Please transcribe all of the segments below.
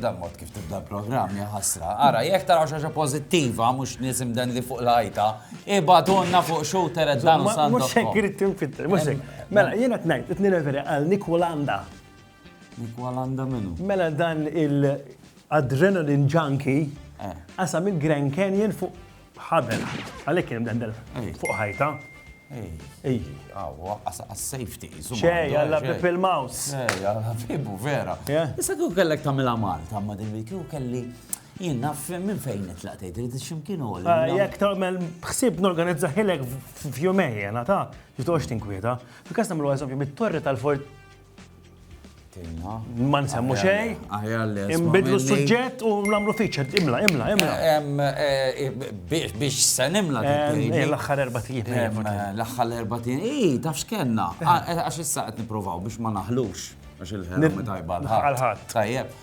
Dan mod kif tibda l-programm jaħasra. Ara, jekk tara xaġa pozittiva, mux nisim dan li fuq l-ħajta, ibadonna fuq xu teret dan u sandu. Mux hekk irrid tinfitter, mux hekk. Mela, jena t-najt, t-nireveri għal Nikolanda. Nikolanda minu? Mela dan il-adrenaline junkie, eh. għasam il-Grand Canyon fuq Ħaben. Għalhekk kien hemm dendel fuq ħajta. Ej, ej, għaw, għas-safety. ċej, għalla bib il-maus. Ej, għalla bibu, vera. Issa kju kellek tamila Malta, ma din kju kelli jien naf minn fejn nitlaq tgħid irid x'imkien u ah, Jekk tagħmel ħsieb norganizza ħilek f'jumejn jena ta' jitgħox tinkwieta. Fil-każ nagħmlu eżempju mit-torri tal-fort Ma nsemmu xej. Imbidlu suġġett u namlu featured. Imla, imla, imla. Eh, eh, eh, biex se nimla. L-axħar erba tijin. L-axħar erba tijin. Ii, tafx kenna. Ah, għax issa qed niprovaw biex ma naħlux. Għax il-ħerba tajba. Għal-ħat. Tajjeb.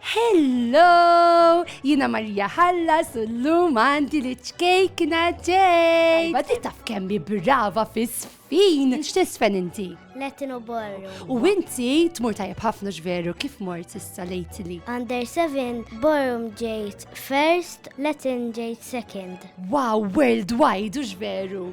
Hello! Jiena Marija Ħallas u llum għandi li ċkejkna ġej! Tajba di taf kemm hi brava fis-sfin! X'tisfen inti? Latin u Borrow. U inti tmur tajjeb ħafna x'veru kif mort issa lately? Under 7, Borum ġejt first, Latin ġejt second. Wow, worldwide u x'veru!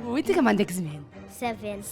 U inti kemm għandek żmien? 7.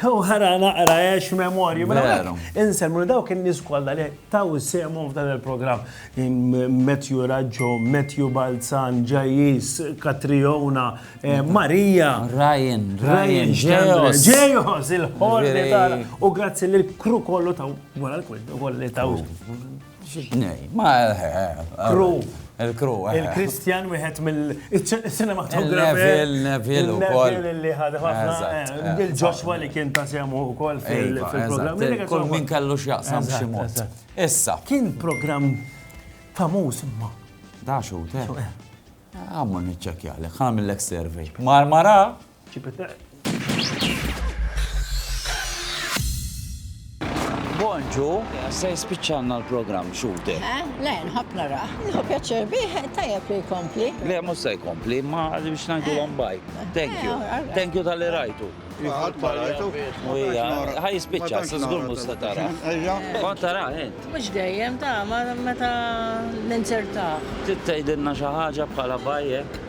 U ħara naqra ex memorju. Mela, Inselmu li dawk in-nies kollha li taw semhom f'dan il-programm. Matthew Raġġo, Matthew Balzan, Ġajis, Katriona, eh, Marija. Ryan, Ryan, Ġejos. Ġejos, il-ħorri tara. U grazzi li l-kru kollu taw wara l-kwid, kolli taw. Il-crew. Il-Christian wieħed mill-cinematografer. Il-Neville, Neville ukoll. Il-Neville li ħad ħafna. Il-Joshua li kien ta' sehem ukoll fil-programm. Kull min kellu x'jaqsam b'xi mod. Issa. Kien programm famuż imma. Da xut, eh. Għamma niċċekkjalek, ħamillek survey. Marmara? Bonġu, se jispiċċanna l-programm xute. Eh, le, nħobb nara. Nħobb pjaċir bih, tajjeb li jkompli. Le, mhux se jkompli, ma biex ngħidu eh. baj. Thank eh, you. Thank you tal-li rajtu. Għad ma rajtu. Ħaj jispiċċa, se żgur mhux se tara. Kont tara int. Mhux dejjem ta' ma meta ninzertaħ. Tittejdilna xi ħaġa bħala bajjek.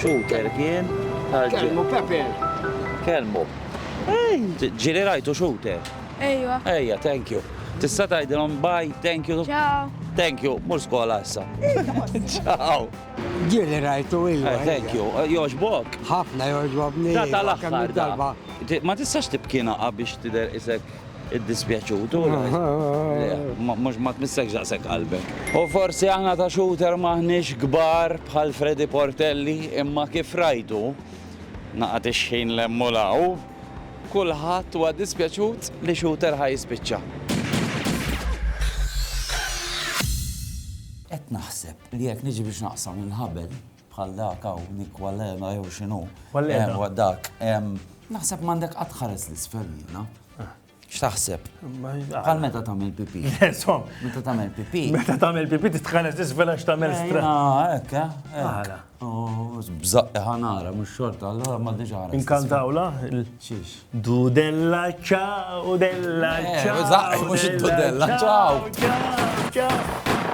Shooter kien għal Kelmu Pepe. Kelmu. Ġili rajtu shooter. Ejwa. Ejja, thank you. Tista' tgħidilhom bye, thank you. Ciao. Thank you, mur skola issa. Ciao. Ġili rajtu ejwa. Eh, thank you. Eh, joġbok? Ħafna joġbobni. Ta' tal-aħħar darba. Ma tistax tibkina biex tidher isek Iddispjaċut, u mhux ma tmissekx daqshekk qalbek. U forsi aħna ta' shooter m'aħniex kbar bħal Freddy Portelli, imma kif rajtu, naqgħad ix-xħin 'l hemm u 'l hawn, kulħadd huwa dispjaċut li shooter ħa jispiċċa. Qed naħseb li jekk niġi biex naqsam il-ħabel, bħal dak hawn, Nick Wallena jew x'inhu. Wallena. Ewa dak. Naħseb m'għandek qatt ħares l-isfel jiena. X'taħseb? Bħal meta tagħmel pipi. Insomma. Meta tagħmel pipi. Meta tagħmel pipi titħares l-isfel għax tagħmel stra. Hekk, eh? Għala. Bżaqqa ħanara, mhux xorta, allora ma diġà ħares. Inkantawla? Xiex. Dudella ċaw, della ċaw. Bżaqqa, mhux dudella ċaw. Ċaw, ċaw.